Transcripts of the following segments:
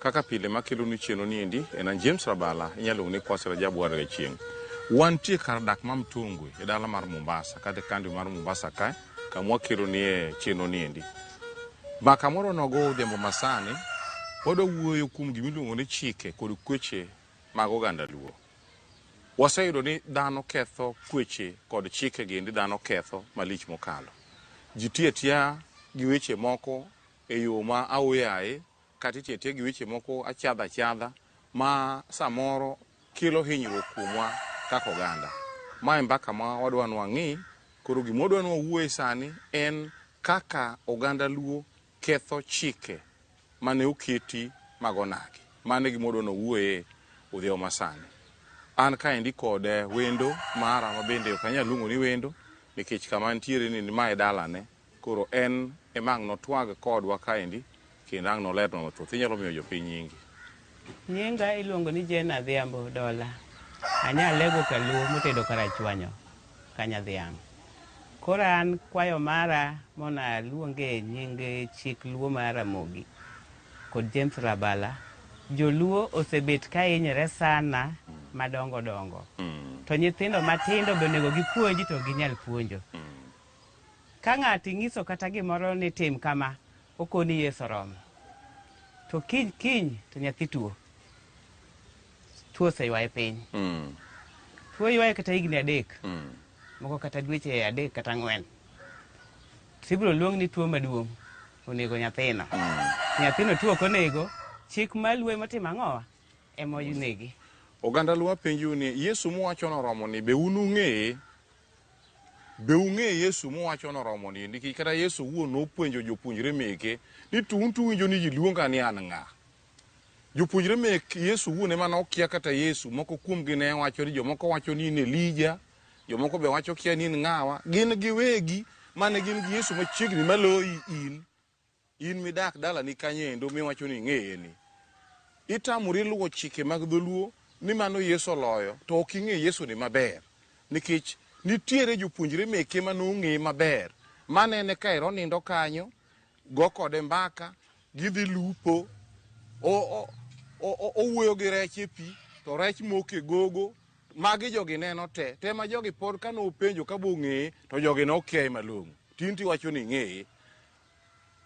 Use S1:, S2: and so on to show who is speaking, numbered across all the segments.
S1: Kaka pile makelonu chenro ni endi en an James Rabala, inyalo luongo ni Kwasi Rajabu Warga Chieng'. Wantie kar dak ma Mtongwe e dala mar Mombasa, kadhi kandi mar Mombasa kae, kama wakelonie chenro ni endi. Ma kamoro nogo odhiambo masani, wadwa wuoyo kuom gima iluongo ni chike kod kweche mag oganda Luo. Waseyudo ni dhano ketho kweche kod chike gi endi dhano ketho malich mokalo. Ji tiyo atiya gi weche moko e yo ma aoyaye Kata itiyo atiya gi weche moko achadha achadha ma samoro kelo hinyruok kuomwa kaka oganda. Ma e mbaka ma wadwa ni wang'i. Koro gima wadwa ni wawuoye sani en kaka oganda Luo ketho chike mane oketi mag onagi. Mano e gima wadwa ni wawuoye odhiambo ma sani. An kaendi kod wendo mara ma bende ok anyal luongo ni wendo nikech kama antiere ni ma e dalane. Koro en ema ang' notwag kodwa kaendi kendo ang' nolernwa mathoth. Inyalo miyo jopiny nyingi. Nyinga
S2: iluongo ni Jane Adhiambo Dola. Anya lego kaluo motedo kar achwanyo ka nyadhiang'. Koro an kwayo mara mondo aluonge nying chik luo mar Ramogi kod James Rabala. Joluo osebet ka hinyre sana madongo dongo. To nyithindo matindo be onego gipuonj to ok ginyal puonjo. Ka ng'ato ing'iso kata gimoro ni tim kama, okoni yes oromo. To kiny kiny to nyathi tuo. Tuo oseywaye piny. Mm. Tuo ywaye kata higni adek. Mm. Moko kata dweche adek kata ang'wen. To ibiro luong ni tuo maduong' onego nyathino. Mm. Nyathino tuo ok onego. Chik maluwe motimo ang'owa ema onegi. Oganda luo
S1: apenjou ni Yesu muwacho noromo ni be un ung'eye? Be ung'e Yesu muwacho noromo ni niki kata Yesu wuon nopuonjo jopuonjre meke ni to un to winjo ni ji luonga ni an ng'a? Jopuonjre mek Yesu wuon ema nokia kata Yesu. Moko kuomgi ne wacho ni jomoko wacho ni in Elija, jomoko be wacho kia ni in ng'awa. Gin giwegi mane gin gi Yesu machiegni maloyi in. In midak dalani kanyo endo miwacho ni ing'eye ni, itamori luwo chike mag dholuo ni mano Yesu oloyo to ok ing'e Yesu ni maber nikech nitiere jopuonjre meke ma nong'eye maber manene ka ero nindo kanyo, go kode mbaka, gidhi lupo, o, o, o, o, owuoyo gi rech e pi to rech moke gogo. Magi jogi neno te, te ma jogi pod kane openjo ka bong'eye to jogi nokiaye malong'o. Tinti wacho ni ing'eye.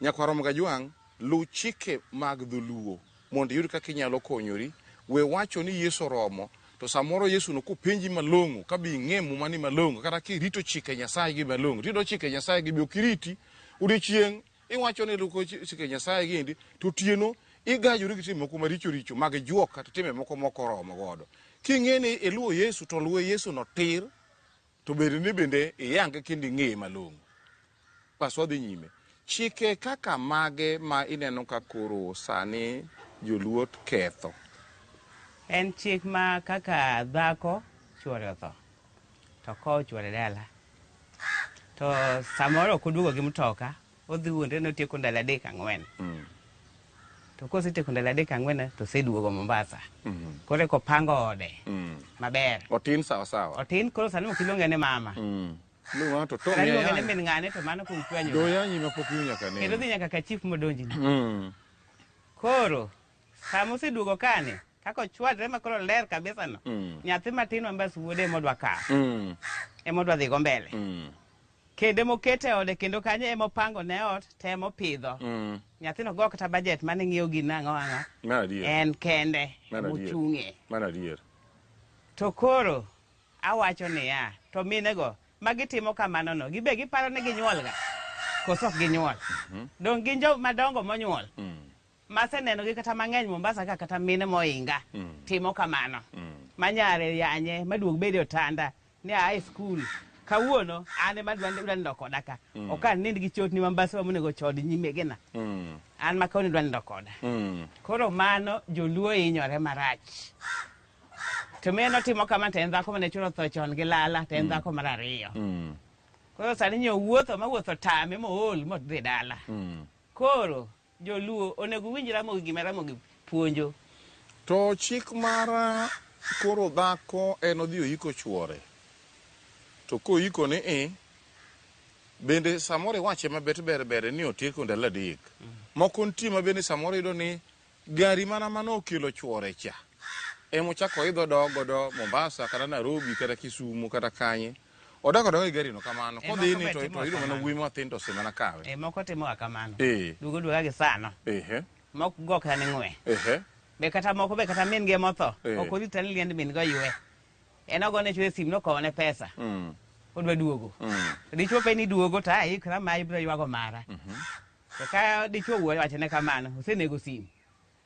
S1: Nyakwarom Gajwang', luw chike mag dholuo mondo iyud kaka inyalo konyori. We wacho ni Yesu oromo, to samoro Yesu no kopenji malong'o ka be ing'e muma ni malong'o kata kirito chike Nyasaye gi malong'o. Tiyudo chike Nyasaye gi be ok iriti. Odiochieng' iwacho ni iluko chike Nyasaye gi endi to otieno igajori gi timbe moko maricho richo mag juok kata timbe moko mok oromo godo. King'e ni iluwo Yesu to luwe Yesu no tir. To ber ni bende iyange kendo ing'eye malong'o. Bas wadhi nyime. Chike kaka mage ma ineno ka koro sani joluo ketho?
S2: En chik ma kaka dhako chuore otho to kowo chuore dala to samoro ok oduogo gi mtoka Odhi wuon to otieko ndalo adek ang'wen. Mm. To kosetieko ndalo adek ang'wen to oseduogo Mombasa. Mm. Koro eko pango ode. Mm. Maber. Otin sawa sawa.
S1: Otin koro sani ok iluonge
S2: ni mama. Mm. Luonga to
S1: to. Sani iluonge ni min ng'ane to
S2: mano kuom kwanyo. Do yanyi ma pok iwinyo
S1: kane. Kendo dhi nyaka ka chief modonji.
S2: Mm. Koro sama oseduogo kane kaka ochwadre ma koro ler kabisa no. Mm. Nyathi matin ma mbas wuode emodwa ka. Mm. Emodwa dhigo mbele. Mm. Kendo ema okete e ode kendo kanyo ema opango ne ot to ema opidho. Mm. Nyathino go kata bajet mane ng'iewo gin ang'o ang'o. Mano adier. En kende Mano adier. mochung'e. Mano adier.
S1: To
S2: koro awacho niya, to minego ma gitimo kamano no, gibe giparo ni ginyuolga? Koso ok ginyuol? Donge gin jo madongo monyuol? Mm. Masenenogi kata mang'eny Mombasa ka kata mine moinga timo kamano. Ma nyare yanye maduog bede otanda ni a e skul. Kawuono an ema dwa dwa nindo koda ka. Ok an nind gi chotni ma mbaswa monego chod nyimegena. An ma koni dwa nindo koda. Koro mano joluo hinyore marach. To mine notimo kama to en dhako mane chura otho chon gi lala to en dhako mar ariyo. Koro sani nyo wuotho ma wuotho tame mool modhi dala. Koro Joluo onego uwinj Ramogi gima Ramogi puonjo. To
S1: chik mar koro dhako en odhi oiko chuore. To koiko ni i, bende samoro iwache mabet ber ber ni otieko ndalo adek. Moko nitie ma bende samoro iyudo ni gari mana mane okelo chuore cha emochako idho odok godo Mombasa kata Nairobi kata Kisumo kata kanye. Odak odak gi garino kamano. Eh, Kodhi ni to to yudo mana wuoyi mathin to osimana kawe. Eh moko timo kamano.
S2: Eh. Dugo duga gi
S1: sano.
S2: Eh. Mok gok tani ngwe. Eh. Be kata moko be kata min ge motho. Eh. Ok ori tani liend min go ywe. En ogo ne chwe sim no kowo ne pesa. Mm. Odwa duogo. Mm. Dichwo pe ni duogo ta ikra ma ibro ywago mara. Mhm. Mm to ka dichwo wuoyo wachne kamano, osenego sim.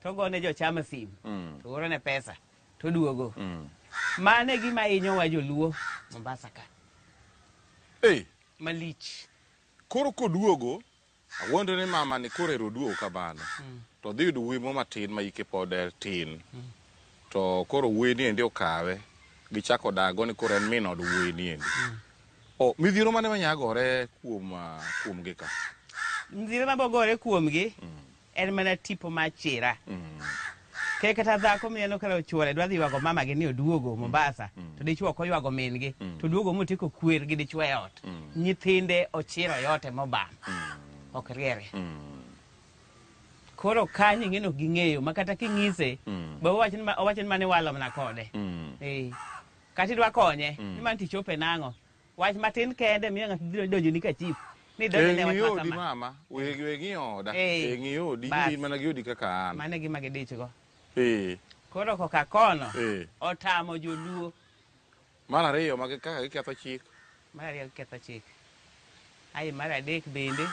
S2: To ogo ne jochama simu, mm. to oro ne pesa, to oduogo. Mm. Mane gima inyo wa joluo Mombasa ka. Hey. Malich. Koro
S1: koduogo, awuondo ni mama ni koro ero duogo kamano. Mm. To dhi yudo wimo matin ma ike pod er tin. Mm. To koro weni endi okawe. Gichako dago ni koro en min od weni endi. Mm. O, midhiro mane manyagore kuom, ah, kuom gi ka? Midhiro
S2: mabogore kuom gi? Mm. En mana tipo ma chira. Mm. Ke kata dhako mineno kala ochuore dwa dhi ywago mamagi ni oduogo mm. Mombasa mm. to dichwo ok oywago min-gi mm. to oduogo motieko kwer gi dichwo e ot. Mm. Nyithinde ochiro e ote mobam. Mm. Ok riere. Mm. Koro kanyo ing'eno ging'eyo ma kata king'ise mm. be owacho ni mane walo mana kode. Mm. Eh. Kata idwa konye mm. ni man tichope nang'o. Wach matin kende miyo ng'ato biro donjoni ka chief. Ni E donjone wach ng'i ma odi kama. mama, we
S1: we ng'i oda. Eh, E ng'i odi, bas. in mana gi odi kaka an. Mano e gima gidichgo.
S2: Eh, Koro koka kono, eh. otamo joluo. Mar
S1: ariyo ma gi- kaka giketho chik. Mar ariyo giketho
S2: chik. Ae mar adek bende,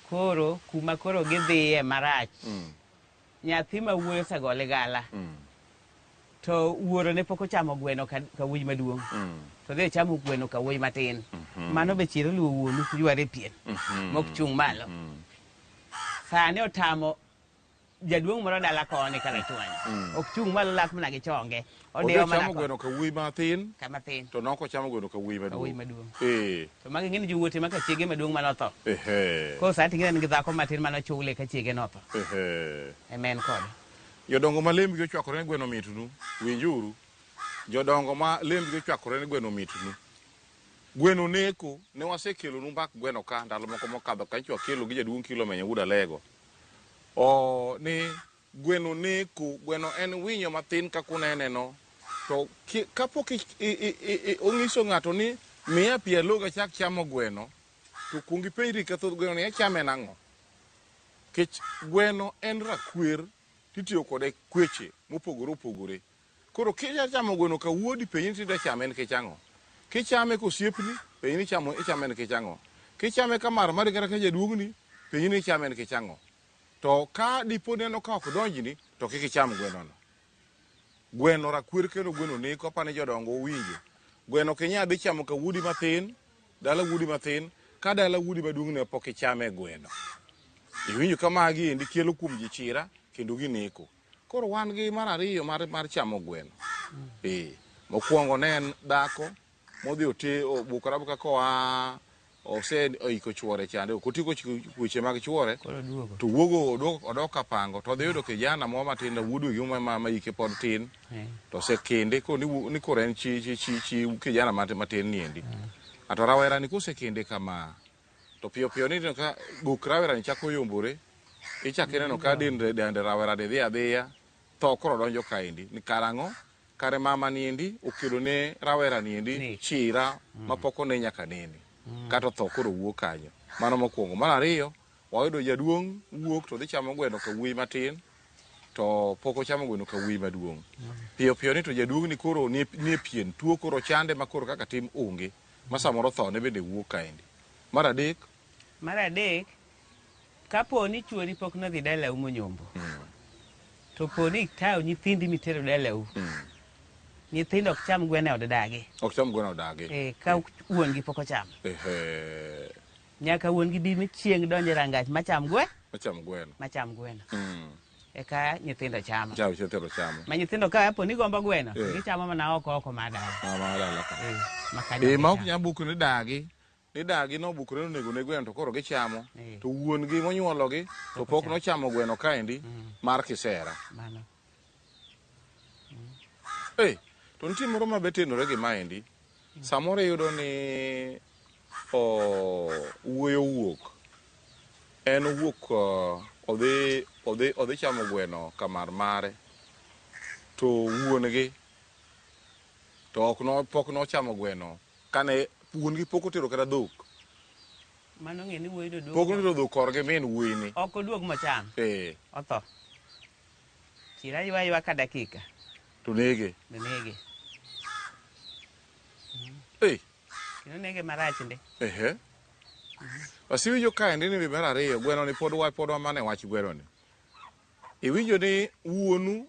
S2: koro kuma koro gidhiye marach. Mm. Nyathi ma wuoyi osego ligala mm. to wuoro ne pok ochamo gweno ka wuoyi maduong' mm. to dhi ochamo gweno ka wuoyi matin mm-hmm. mano be chiro luwo wuonu yware pien mm-hmm. mok chung' malo mm. sani otamo jaduong' moro dala koni kalachwany ok chung' malo lak mana gi chonge Ondiyo Ondiyo mana chamo ko. gweno
S1: ka wuoyi matin Ka matin. to noko
S2: chamo gweno ka
S1: wuoyi Ka wuoyi maduong'. maduong'. Eh, To magi ng'eny
S2: jowuote ma ka chiege maduong' mane otho. ehe, Koro sani ting'e en gi dhako matin mane ochule ka chiege notho. ehe. Ema en kode. Jodongo ma
S1: lembgi ochwakore ni gweno mitnu, winjuru. Jodongo ma lembgi ochwakore ni gweno mitnu. Gweno neko, ne wasekelonu mbak gweno ka ndalo moko mokadho kanyo to wakelo gi jaduong' Kilomeny Awuod Alego. O, ni Gweno neku. Gweno en winyo mathin kaka uneneno. To kapok onyiso ng'ato ni miya pi alog achak chamo gweno, to okwongo ipenjri ka thoth gwenoni achame nang'o. Nikech gweno en rakwer to itiyo kode kweche mopogore opogore. Koro kidwa chamo gweno ka wuodi, penje ni to idwa chame nikech ang'o. Kichame ka osiepni, penje ni ichame nikech ang'o. Kichame ka marmari kata ka jaduong'ni, penje ni ichame nikech ang'o. To ka dipo ni aneno ka ok donjni, to kik icham gwenono. Gweno rakwer kendo gweno neko, aparo ni jodongo uwinjo. Gweno ok inyal dhi chamo ka wuodi mathin, dala wuodi mathin, ka dala wuodi maduong' ne pok ichame gweno. Iwinjo ka magi endi kelo kuom ji chira kendo gineko. Koro wan gi mar ariyo mar, mar chamo gweno. Ee, mokwongo ne en dhako modhi ote obukore abuka koa ose oiko chuore chande ok otieko weche mag chuore to wuogo odok odok kapango to dhiyudo kijana moro matin da wuod wegi ma ma ike pod tin to se kende ko ni wu- ni koro en chi chi chi, chi kijana mat- matin niendi ato rawera ni kose kende kama to piyo piyo ni ka gok rawera ni chako yombore ichak ineno ka dende dende rawera ni dhi adhiya tho koro donjo kaendi ni karang'o Kare mama ni endi okelo ne rawera ni endi chira mm. ma poko ne nyaka nene mm. kato tho koro wuo kanyo mano mokwongo mar ariyo wayudo jaduong' wuok to dhi chamo gweno ka wuoyi matin to pok ochamo gweno ka wuoyi maduong' mm. piyo piyo ni to jaduong' ni koro ni e pien tuo koro chande ma koro kaka tim onge ma samoro tho ne bende wuok kaendi mar adek Mar adek, kapo ni chuori pok nodhi dalau monyombo, to po ni ikawo nyithindi mitero dalau, nyithindo ok cham gweno e od dagi. Ok cham gweno e od dagi. Eh, ka wuon gi pok ochamo. Ehe. Nyaka wuon gi bi chieng' donje rangach macham gwe. Macham gweno. Macham gweno. Mm. Eka nyithindo chamo. Chamo nyithindo chamo. Ma nyithindo ka po ni gombo gweno, eh. gichamo mana oko oko mar dala. Ah, mar dala ka. Eh, eh ma ok nyam buku ni dagi. ni dagi nobukore nonego ne gweno to koro gichamo eh. to wuon gi monyuolo gi to pok nochamo gweno kaendi mm. mar kisera mm. eh to nitie moro ma betenore gi maendi mm. samoro iyudo ni wuoyo wuok en wuok odhi odhi odhi chamo gweno kamar mare to wuon gi to ok no pok nochamo gweno Kane wuon gi pok otero kata dhok. Mano
S2: ng'e ni wuoyi doduogo. Pok notero dhok korgi
S1: min wuoyi ni. Ok oduog mochan.
S2: Ee. Otho. Chira ywa ywa ka dakika. To nege.
S1: To nege.
S2: Ee. Kino nege marach ndi. Ehe.
S1: Wasiwinjo ka ndi ni bibera ariyo gweno ni pod wa pod wamane wach gweno ni. Iwinjo ni wuonu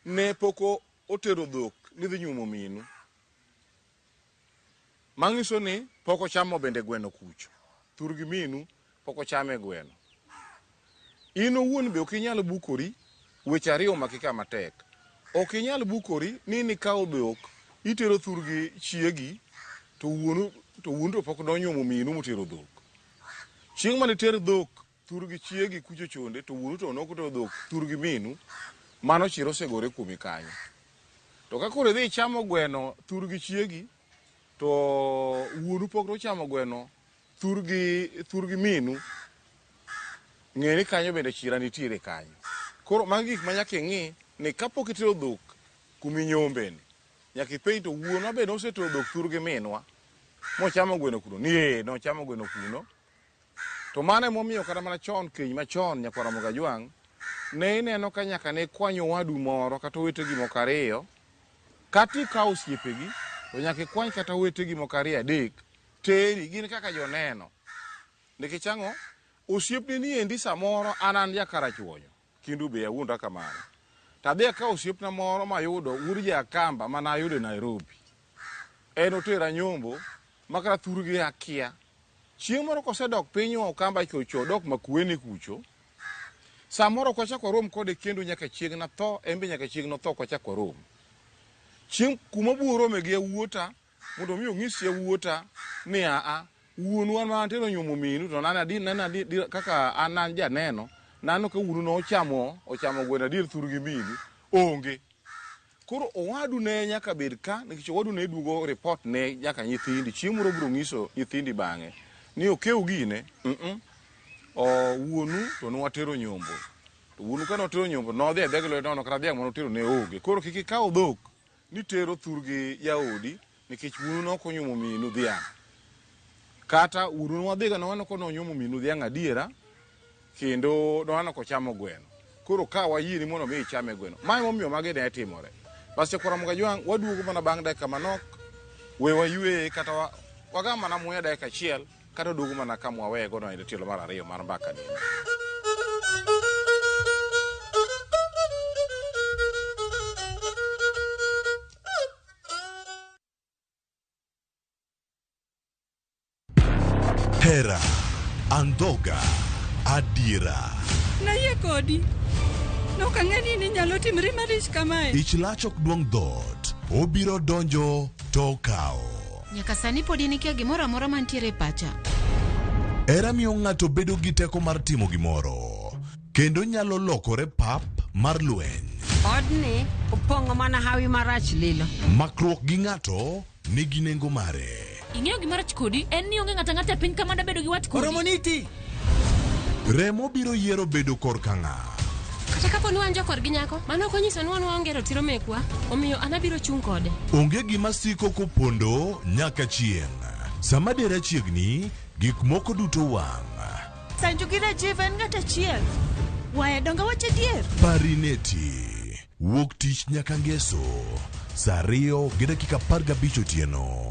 S1: ne poko otero dhok ni dhi nyuomo minu. Mangiso ni pok ochamo bende gweno kuch. Thur gi minu pok ochame gweno. In owuon be ok inyal bukori weche ariyo omaki ka matek. Ok inyal bukori ni in ikawo dhok itero thur gi chiegi to wuonu to wuonu to pok nonyuomo minu motero dhok. Chieng' mane iter dhok Thur gi chiegi kucho chonde to wuoru to noko to dhok thur gi minu mano chiro osegore kuomi kanyo. To ka koro idhi ichamo gweno thur gi chiegi to wuoru pok nochamo gweno thur gi thur gi minu ng'e ni kanyo bende chira nitiere kanyo. Koro magi gik ma nyaka ing'i ni kapok itero dhok kumi nyombeni nyaka ipenj to wuonwa be nosetero dhok thur gi minwa mochamo gweno kuno ni ee nochamo gweno kuno To mano emomiyo kata mana chon keny machon nyakwar Ramogi Ajwang' ne ineno ka nyaka ne ikwany owadu moro kata owetegi moko ariyo kata ikawo osiepegi to nyaka ikwany kata owetegi moko ariyo adek teri gin kaka joneno nikech ang'o osiepne ni endi samoro an an jakarachuonyo Kindu be awuonda kamano. To adhi akawo osiepna moro mayudo wuod Jakamba ma nayudo e Nairobi. En otera nyombo ma kata thurgi akia. Chieng' moro kosedok piny Okamba chocho odok Makueni kucho, samoro ok wachak warom kode kendo nyaka chieng' natho, en be nyaka chieng' notho ok wachak warom. Chieng' kuma abiro rome gi yawuota mondo mi onyis yawuota ni aa wuonwa ma antere onyuomo minu to nana di nana di kaka an an janeno nano ka wuonu ne ochamo ochamo gweno adier thurgi minu onge koro owadu ne nyaka bed ka nikech owadu ne duogo report ne nyaka nyithindi chieng' moro biro nyiso nyithindi bang'e ni okew gine mm -mm. O, wuonu to nwatero nyombo to wuonu ka notero nyombo nodhi adhi gi lwedo nono kata dhiang' manotero ne onge koro kik ikaw dhok Ni tero thurgi jaodi nikech wuonu ne ok onyuomo minu dhiang'. Kata wuonu ne wadhiga ne waneno ni onyuomo minu dhiang' adiera kendo ne waneno ka ochamo gweno. Koro ka wayieni mondo mi ichame gweno. Ma ema omiyo magi ne timore. Bas Chokora Mugajwang' waduogo mana bang' dakika manok. We wayueye kata wagam mana muya dakika achiel. Kata oduogo mana ka mwaweye godo e tielo mar ariyo mar mbaka ni.
S3: Hera, andhoga, adiera. Nayie
S4: kodi. Nok ang'e ni ninyalo timri malich kamae. Ich lach ok duong'
S3: dhoot, obiro donjo to okawo. Nyaka sani podi
S5: nikia gimoro amora mantiere e pacha. Hera
S3: miyo ng'ato bedo gi teko mar timo gimoro kendo nyalo lokore pap mar lweny. Odni
S4: opong'o mana hawi marach lilo. Makruok gi ng'ato
S3: nigi nengo mare. Ing'eyo gima rach
S5: kodi en ni onge ng'ata ng'ata e piny kama dabedo gi wat kodi. Oromoniti!
S3: Remo biro yiero bedo korka ng'a? Kata kapo ni
S5: wan jokor gi nyako, mano ok onyiso ni wan waonge ratiro mekwa, omiyo an abiro chung' kode. Onge gima siko
S3: kopondo nyaka chieng'. Sama dera chiegni, gik moko duto wang'. Sanju gi
S4: Rajiv en ng'at achiel. Waya donga wach adier. Parineti.
S3: Wuok tich nyaka ngeso. Saa ariyo gi dakika apar gabich otieno.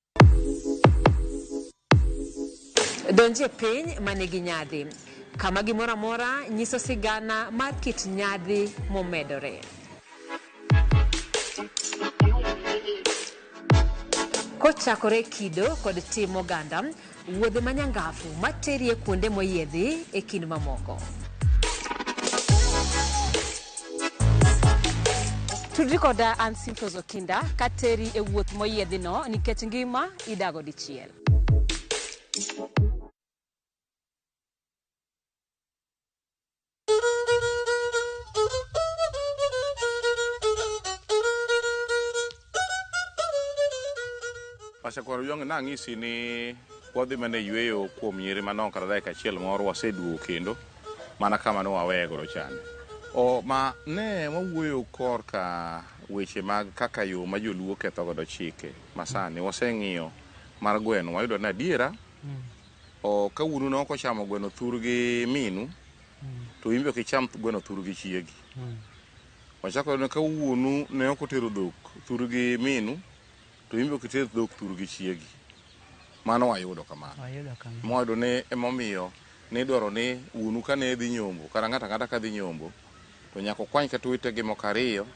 S6: Donje piny ma nigi nyadhi, kama gimoro amora nyiso sigana mar kit nyadhi momedore. Kochakore kido kod tim oganda, Wuodhe ma nyangafu ma terie kuonde moyiedhi e kind mamoko. Tudri koda an Simfos Okinda ka teri e wuoth moyiedhino nikech ngima idago dichiel.
S1: Pastor Kwaro Yong, nang'isi ni wadhi mana e yueyo kuom nyiri manok kata dakika achiel moro waseduogo kendo mana kama ne waweye godo chande. O, ma ne wawuoyo korka weche mag kaka yo ma joluo ketho godo chike masani waseng'iyo mar gweno wayudo ni adiera O, ka wuonu ne ok ochamo gweno thur gi minu, to in be ok icham gweno thur gi chiegi. Wachako waneno ka wuonu ne ok otero dhok thur gi minu, to in be ok iter dhok thur gi chiegi. Mano wayudo kamano. Wayudo kama. Mwayudo ni emomiyo nidwaro ni wuonu kane dhi nyombo, kata ng'ato ang'ata ka dhi nyombo, to nyaka okwany kata owetegi moko ariyo,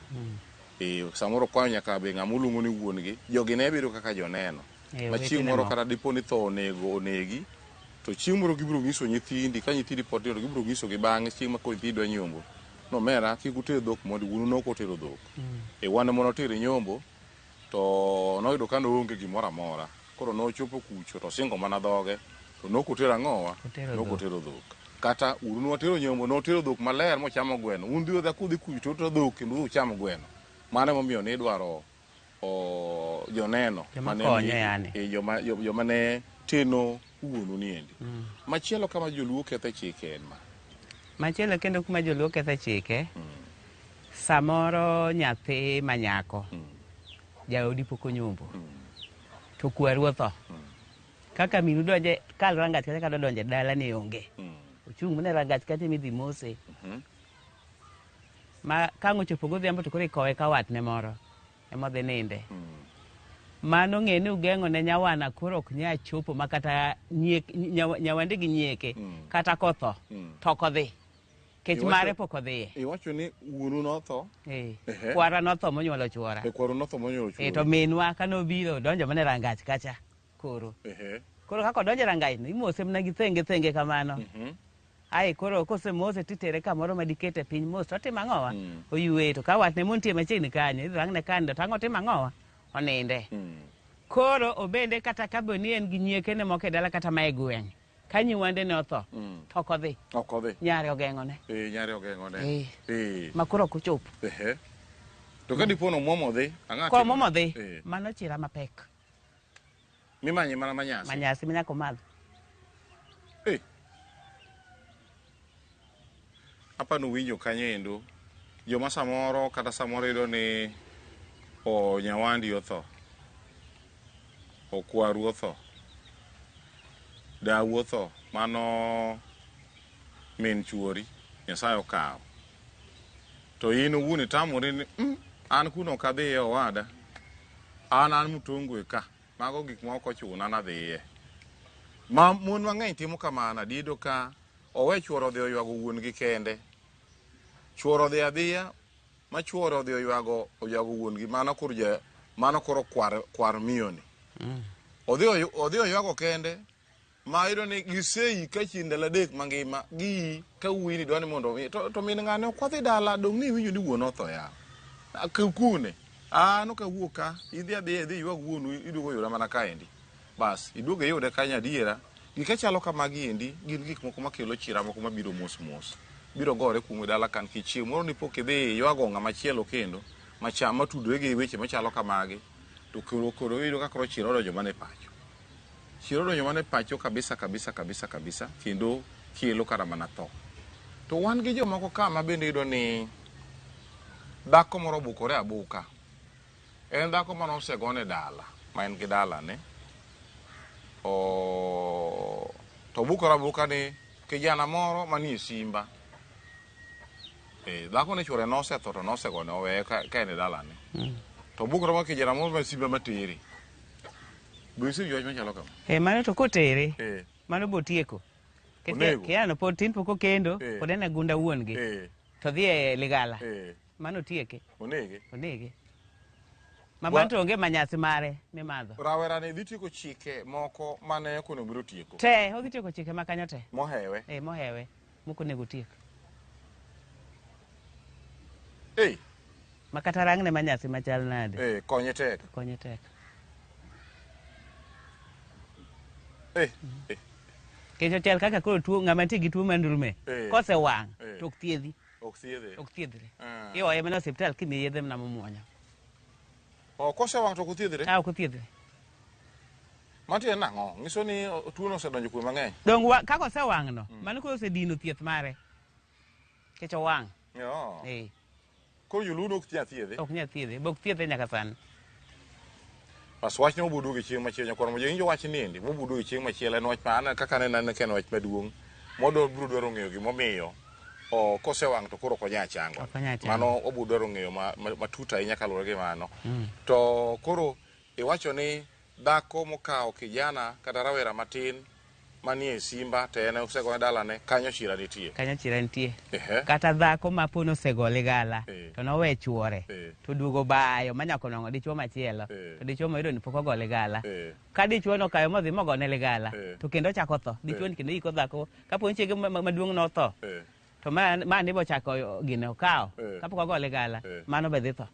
S1: eh, samoro okwanyo nyaka be ng'ama oluongo ni wuon-gi. Jogi ne biro kaka joneno. Eh, ma chieng' moro kata dipo ni tho onego onegi to chieng' moro gibiro nyiso nyithindi ka nyithindi pod tindo gibiro nyiso gi bang'e chieng' ma koro nyithindi dwa nyombo no mera kik uter dhok mondo wuonu nok otero dhok mm. e wan mondo otere nyombo to noyudo ka noonge gimoro amora koro nochopo kucho to singo mana dhoge to nok otero ang'owa nok otero dhok kata uru notero nyombo notero dhok maler mochamo gweno un dhi odha kudhi kucho to dhok kendo ucham gweno mano emomiyo nidwaro joneno joma ne teno wuonu ni endi mm. machielo kama joluo kethe chike en ma machielo
S2: kendo kuma joluo kethe chike mm. samoro nyathi manyako mm. jaodi pok onyombo mm. to kwaru otho mm. kaka minu donje kalrangach kata kadodonje dala ni onge mm. ochung' mne rangach kata midhi mose mm -hmm. ma kang' ochopo godhiambo to koro ikowe ka watne moro ema odhi ninde mano ng'e ni ugeng'o ne nyawana koro ok nya chopo ma kata nyiek- nyawa- nyawande gi nyieke kata kotho to ok odhi kech Iwacho- mare pok odhiye iwacho ni wuonu
S1: notho Eh, Ehe. kwara
S2: notho monyuolo chuora e kwaru notho monyuolo Eh,
S1: to chuo minwa ka nobiro
S2: donjo mana e rangach kacha Koro. Koro kaka odonjo e rangaino, imose mana gi thenge thenge kamano. Mhm. Ae koro kosemose titere kamoro ma dikete piny mos to otimo ang'owa? Mm. Oyueye to ka watne montie machiegni kanyo, idhi rang'ne kande to ang' otimo ang'owa? Oninde. Mm. Koro obende kata ka be ni en gi nyiekene moko e dala kata ma e gweng', ka nyiwandene otho, Mm. to ok odhi. Ok odhi. Nyare ogeng'one. Eh, nyare ogeng'one.
S1: Eh. Eh. Ma koro ok
S2: ochopo. Ehe.
S1: To ka dipo ni omwomo odhi, ang'a Ko timo? momo dhi, Eh.
S2: mano chira mapek.
S1: Mimanye mana manyasi. Manyasi minya komadho.
S2: Eh.
S1: Apa nuwinjo kanyo endo. Joma samoro kata samoro yudo ni o nyawandi otho. Okwaru otho. Dawu otho. Mano min chuori. Nyasaye okawo. to in owuon itamori ni mm, an kuno ok adhiye owada an an mutongwe ka mago gik ma ok ochuna nadhiye ma mon mang'eny timo kamano adiedo ka owe chuoro odhi oywago wuon gi kende chuoro odhi adhiya ma chuoro odhi oywago oywago wuon gi mano koro ja mano koro kwar kwar miyoni odhi oy- odhi oywago kende ma yudo ni giseyi ka chieng' ndalo adek mangima giyi ka wuoyi ni dwani mondo omi to, to min ng'ane ok wadhi dala dong' ni winjo ni wuon otho ya kune an ok awuok ka idhi adhiya idhi ywag wuonu iduogo yuda mana kaendi bas iduogo iyude kanyo adiera gik achalo kamagi endi gin gik moko makelo chira moko mabiro mos mos biro gore kuomu e dala kan kichieng' moro nipoka idhi ywago ng'ama chielo kendo macha matudore gi weche machalo kamagi to koro koro iyudo ka koro chira odonjo mana e pacho Chiero odonjo mana e pacho kabisa kabisa kabisa kabisa kendo chielo kara mana tho. To wan gi jomoko ka ma bende yudo ni dhako moro obukore abuka. En dhako mane osegone dala, ma en gi dalane. O to obukore abuka ni kijana moro manie simba. Eh, dhako ne chwore nosetho to nosegone oweye ka, ka en e dalane. To obukore ma kijana moro ma simba materi. Be isewinjo wach machalo kama? Eh, mano to kotere, Eh.
S2: mano botieko. Nikech Onego. Kiano pod tin pok okendo, Eh. pod en e gunda wuon gi. Eh. To dhi e ligala. Eh. Mano tieke, Onege. onege. Ma Wa- mano to onge manyasi mare mimadho. Rawera ni dhi tieko
S1: chike moko mane ok onego biro tieko. Te, odhi tieko chike ma
S2: kanyo te. Mohewe. Eh, mohewe. Moko onego tiek. Hey. Makata rangne ma nyasi machal nade. Hey, konye tek. Konye
S1: tek.
S2: Hey. Hey. Kecho chal kaka koro tuo ng'ama nitie gi tuo mandulme hey. kose wang' hey. to ok thiedhi. Ok thiedhi. Ok
S1: thiedhre. Uh. Ah. Iwaye mana
S2: osiptal kimiye yedhe mana momwonyo. Oh,
S1: kose wang' to ok thiedhre. Ah, ok thiedhre. Matiende nang'o? Nyiso ni tuono osedonjo kuom mang'eny. Donge wa, kaka osewang'no,
S2: mm. mano koro osedino thieth mare. Kech owang'. Yoo.
S1: Eh. Koro joluo ok nyal thiedhe. Ok nyal thiedhe, bok thiedhe
S2: nyaka sani.
S1: Pas wachne obudu gi chieng' machielo nyakwar mo jowinjo wach niendi mobudu gi chieng' machielo en wach ma an kaka ne nan ken wach maduong' modo biro dwaro ng'eyo gimomiyo o kosewang' to koro konya chango mano obudu dwaro ng'eyo matut ahinya kaluwore gi mano mm. to koro Iwacho ni dhako mokawo kijana kata rawera matin manie simba to en osegone dalane, kanyo chira nitie. Kanyo chira nitie.
S2: Ehe. Kata dhako ma po nosegole gala Eh. to nowe chuore Eh. to duogo bayo ma nyako nong'o dichuo machielo Eh. to dichuo moyudo ni pok ogole gala. Eh. Ka dichuo nokayo modhi mogone ligala Eh. to kendo ochako tho. Dichuo Eh. ni kendo iko dhako ka po ni chiege ma- ma- maduong' notho Eh. to ma ma ni bochako gino okawo Eh. kapok ogole gala Eh. mano be dhi tho.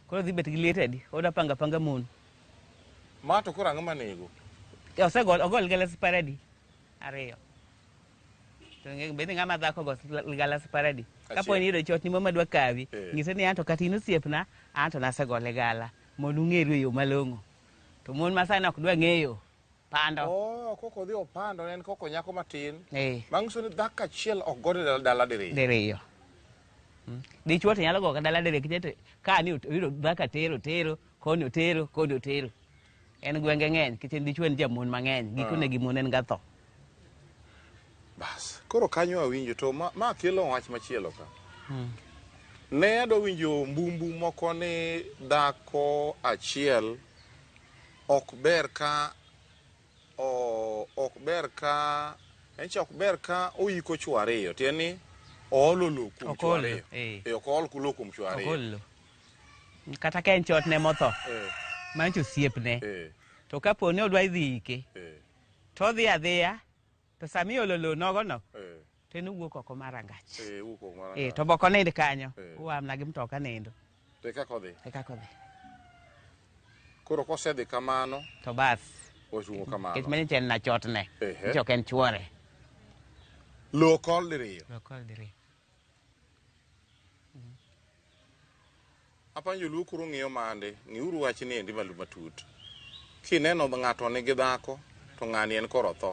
S2: Koro dhi bet gi liet adi? Oda panga panga mon. Ma
S1: to koro ang'o manego? E, osegol ogol
S2: galas paradi ariyo. To nge bende ng'ama dhako go galas paradi. Kapo ni yudo chot ni mama dwa kawi, eh. ng'ise ni anto kata in osiepna, anto nasegole gala mondo ung'eru e yo malong'o. To mon ma sani ok dwa ng'eyo. Pando. Oh, koko odhi
S1: opando ne en koko nyako matin. Eh. Bang' uso ni dhako achiel ok gode dala, dala diriyo. Diriyo. Mm.
S2: Dichwo to nyalo goga dala diriyo kichete ka ni oyudo dhako atero tero koni otero koni otero. En gwenge ng'eny kichete dichwo en jamon mang'eny gikone ah. gi mon en ga tho. Bas.
S1: Koro kanyo awinjo to ma, ma kelo wach machielo ka. Hmm. Ne adwa winjo mbumbu moko ni dhako achiel Ok ber ka o, ok ber ka en cha ok ber ka oyiko chwo ariyo tiende ni oolo lowo kuom Ok chwo ool, ariyo eh. Eh, ok ool lowo kuom chwo ariyo Ogolo.
S2: Kata ka en chot ne motho, Eh, mancho osiepne. eh, To kapo ni odwa idhi ike, eh. to odhi adhiya To sama iolo lowo nogono Eh, to en owuok oko mar rangach. eh, wuok oko mar Eh, rangach. to boko nind kanyo. Eh. Uamna gi mtoka nindo. To e kaka odhi.
S1: E kaka odhi.
S2: Koro kosedhi kamano,
S1: To bas.
S2: ochungo Kech kamano.
S1: manye chen na chotne.
S2: Ehe. Chok en chuore.
S1: Lowo kol diriyo. Lokol diri. Apa joluo koro ng'iyo mande, ng'iuru wach ni endi malo matut. Kineno ng'ato nigi dhako to ng'ani en koro otho.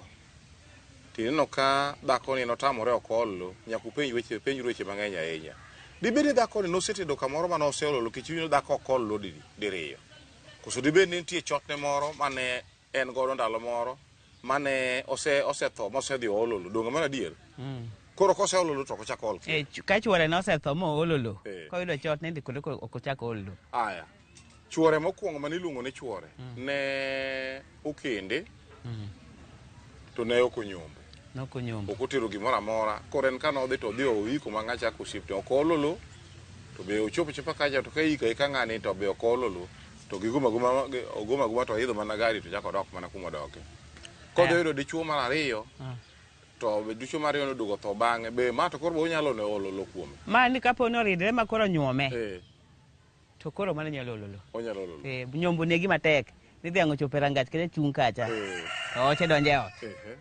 S1: Tineno ka dhako ni notamore ok ol lo, nyaka upenj weche, penj weche mang'eny ahinya. Dibed ni dhako ni nosetedo kamoro mane oseolo lo kech ineno dhako ok ol lo diriyo. Koso dibed ni nitie chotne moro mane en godo ndalo moro mane ose osetho mosedhi oolo lo donge mano adier koro koseolo lo to ok ochak ool kendo. Eh, ch- ka chuore ne osetho
S2: ma oolo lo Eh. koyudo chot ni dhi kode ko- ok ochak ool lo aya
S1: chuore mokwongo mane iluongo ni chuore ne okende to ne ok onyombo nokonyombo ok otero gimoro amora koro en kane odhi to odhi oiko ma ng'a chako osiep to ok oolo lo to be ochopo chopa kacha to ka ika ika ng'ani to be ok oolo lo to gigum aguma ogum aguma to oidho mana gari to chako odok mana kuma odoke kodhi oyudo dichuo mar ariyo to be dichuo mar ariyo noduogo tho bang'e be ma to koro be onyalo ne olo lo kuome ma ni kapo ni oridre
S2: ma koro nyuome eh to koro mano nyalo ololo onyalo olo lo Eh,
S1: nyombo negi matek
S2: ni dhiang' ochopo e rangach kata chung' kacha eh to oche donje ot ehe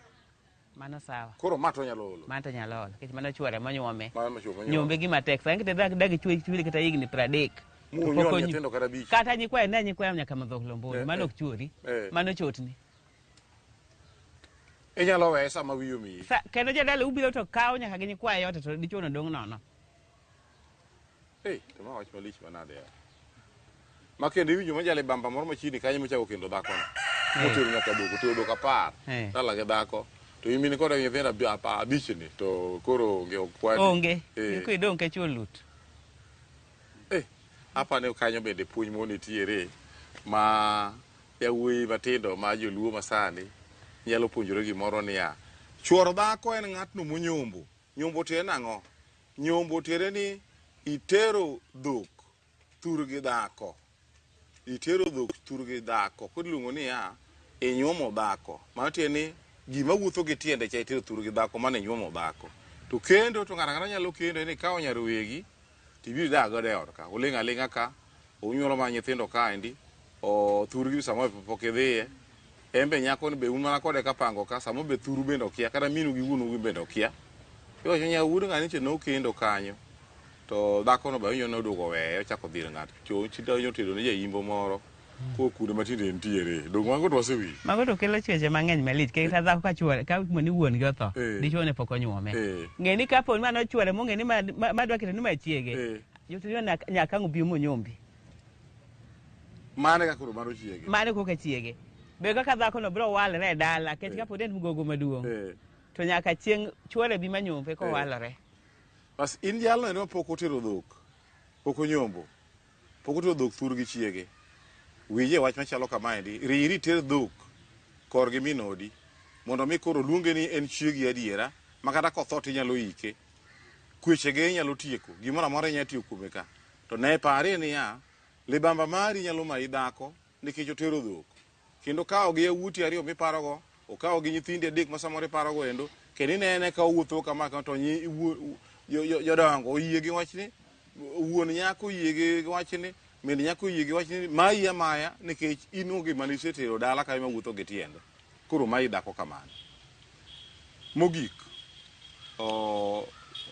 S2: Mano sawa. Koro ma to onyalo olo.
S1: Mano to onyalo olo. Kech mano
S2: chuore monyuome. Mano ma chuore monyuome. Nyombe gima
S1: tek. Sa ngite
S2: dak dak chuwe chuwe kata yigni pradek. Muonyo ni tendo
S1: kata bichi. Kata nyi kwae ne nyi kwae
S2: nyaka madho lombo. Eh, mano eh. ok chuori. Eh. Mano chotni.
S1: Inyalo wesa ma wiyo mi. Sa kendo jadala ubiro
S2: to kawo nyaka gi nyi kwae yote to dichuono dong nono. Hey,
S1: to ma wach malich manade ya. Ma kendo iwinjo majale bamba moro machiegni kanyo mochako kendo dhakono. Motero nyaka doko, otero doko apar. Eh. Dala gi dhako. To in mine koda nyithindo abi- apa- abich ni to koro onge ok kwadi. Onge. Eh. Iko idong
S2: ka chuo lut. Eh,
S1: apa ne kanyo bende puonj mo nitiere ma yawuoyi matindo ma joluo masani nyalo puonjore gimoro niya chuoro dhako en ng'atno monyombo Nyombo tiende ni ang'o? Nyombo tiende ni itero dhok thurgi dhako. Itero dhok thurgi dhako. Koro iluongo niya, inyuomo dhako. Mano tiende ni gima wuotho gi tiende cha itero thurgi dhako mano inyuomo dhako. To kendo to ng'ato ang'ata nyalo kendo en ikawo nyar wegi Tibiro dak godo e ot ka, uling' aling'a ka, unyuolo mana nyithindo kaendi, o thurgi samoro be pok idhiye. En be nyakoni be un mana kode kapango ka, samoro be thuru bende okia, kata minu gi wuonu gin bende okia. Iwacho ni nyar wuod ng'ani nyicha nokendo kanyo, to dhakono be awinjo ni noduogo oweye ochako odhi ir ng'at cho, chi to nyotedo ne ja Imbo moro. Ko kude matinde entiere. Dong mago to wasewi. Mago to kelo chweche
S2: mang'eny malich. Kik ta dhako ka chwore ka mo ni wuon gi otho. Eh. Dichwo ne pok onyuome. Eh. Ng'e ni kapo ni mano chwore mong'e ni ma- ma ma dwa keto ni ma chiege. Eh. Jotiyo nyaka ang' obi monyombi.
S1: Mane ka koro mano chiege. Mane koka chiege.
S2: Be kaka dhako no biro walre e dala kech kapo ni en mgogo maduong'. Eh. To nyaka chieng' chwore bi manyombe kowalore. Bas in
S1: jalno ene ma pok otero dhok. Pok onyombo. Pok otero dhok thurgi chiege. Winjie wach machalo kamaendi, Riri iter dhok korgi min odi mondo mi koro oluonge ni en chiegi adiera makata kotho to inyalo ike. Kwechege inyalo tieko, gimoro amora inyalo tiyo kuome ka. To ne parie niya, libamba mari nyalo mayi dhako nikech otero dhok. Kendo okawo gi yawuoti ariyo miparogo, okawo gi nyithindi adek ma samoro iparogo endo, kendo inene ka owuotho kama kama to nyi iwuo- jo- jo- jodongo oyie gi wachni, wuon nyako oyie gi gi wachni, min nyako oyie gi wachni, mayi amaya nikech in onge mane isetero dala ka ema wuotho gi tiende. Koro mayi dhako kamano. Mogik,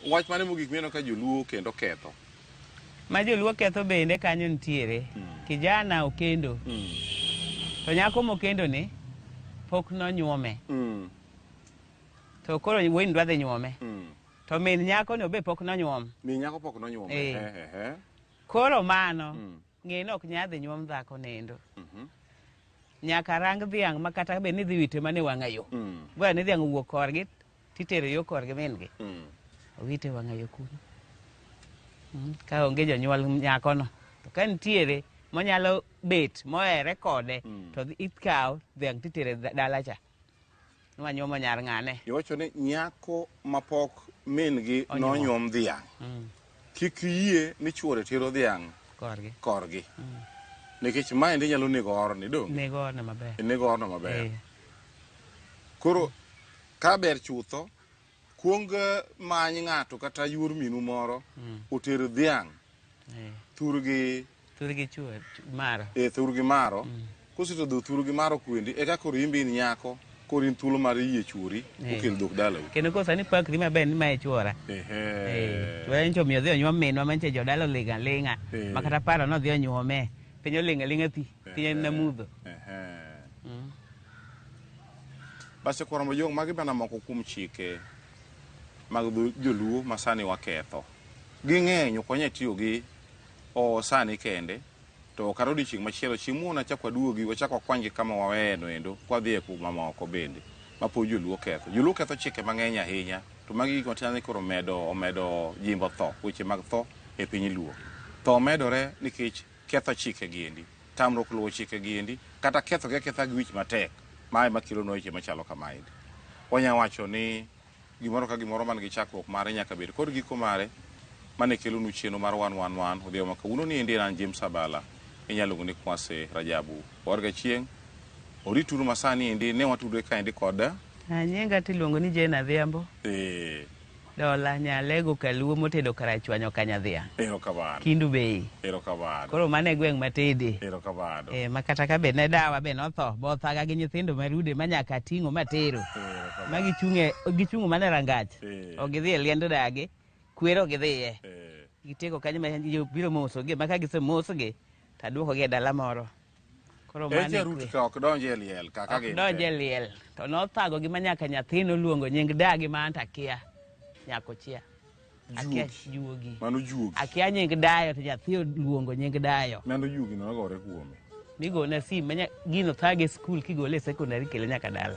S1: wach mane mogik mineno ka joluo kendo ketho? Ma
S2: joluo ketho bende kanyo nitiere. Mm. Kijana okendo. Mm. To nyako mokendo ni pok nonyuome. Mm. To koro wuoyini dwa dhi nyuome. Mm. To min nyako ni obe pok nonyuom. Min nyako pok nonyuom.
S1: Eh.
S2: Koro mano. Mm. Ng'e ni ok nyadhi nyuom dhako nindo. Nyaka rang dhiang' ma kata bed ni dhi wite mana e wang'a yo. Mm. Goya ni dhiang' owuok korgi titere yo korgi min gi. Mm. Owite e wang'a yo kuno. Mm. Ka onge jonyuol nyakono to ka nitiere monyalo bet mohere kode Mm. to dhi- ikawo dhiang' titere da- dala cha. Nwanyuomo nyar ng'ane? Iwacho ni nyako
S1: mapok min-gi Onyuom. nonyuom dhiang'. Mm. Kik iyie ni chwore tero dhiang' Korgi. korgi. Nikech ma endi nyalo nego orni do. Nego orne maber.
S2: Nego orno maber. Eh.
S1: Koro ka ber chutho Kuong many ng'ato kata yuor minu moro mm. oter dhiang' eh. thurgi thurgi chuo
S2: maro e thurgi maro mm.
S1: koseto dho thurgi maro kwendi eka koro imbi in nyako koro in thuolo mar yie chuori eh. okel dhok dalau kendo koro sani pak dhi
S2: maber ni mae chuora eh. chuora nyicho omiyo dhi onyuom minwa manyicho jodala oling' aling'a eh. ma kata paro nodhi onyuome piny oling' aling'a thi piny en namudho
S1: Basi kwaro ma jong' magi bana moko kuom chike mag dho joluo ma sani waketho. Ging'eny ok wanyal tiyo gi o sani kende to kata odiochieng' machielo chieng' moro nachak waduogi wachak wakwanygi kama waweyeno endo kwadhi e kuma moko bende ma pod joluo ketho. Joluo ketho chike mang'eny ahinya to magi gik matiende ni koro omedo omedo jimbo tho, weche mag tho e piny luo. Tho medore nikech ketho chike gi endi, tamruok luwo chike gi endi, kata ketho gi aketha gi wich matek, ma ema kelo nwa weche machalo kama endi. Wanya wacho ni gimoro ka gimoro man gi chakruok mare nyaka bed kod giko mare, mane kelo nu chenro mar wan wan wan odhiambo ma kawuono ni endi an James Abala, inya luongo ni Kwase Rajabu. War ga chieng', orituru masani endi ne watudre ka endi kod. Nyinga tiluongo
S2: ni Jane Adhiambo. Ee. Dola nyalego kaluo motedo karachwanyo kanyadhiang. Erokamano. Kindu
S1: Bay.
S2: Erokamano. Koro mano
S1: e gweng'
S2: matede. Erokamano. Eh, ma
S1: kata ka be ne
S2: dawa be notho, bothaga gi nyithindo marude ma nyaka ating'o matero. Erokamano. Ma gichung'e, gichung'o mana e rangach. Eh. Ok gidhi e liend dagi, kwero ok gidhiye. Eh. Gitego kanyo ma biro mosgi, ma ka gisemosgi, to aduokogi e dala moro. Koro mano Eti e arutu kwe. ka ok donj e liel
S1: kaka Ok gin. donj e liel
S2: to nothagogi ma nyaka nyathi noluongo nying dagi ma anto akia nyako chia akia Juogi. juogi Mano juogi. akia
S1: nying dayo
S2: to nyathi oluongo nying dayo Mano juogi nogore
S1: kuome. migone sim ma
S2: nya- gino thage e skul kigole e sekondari kele nyaka dala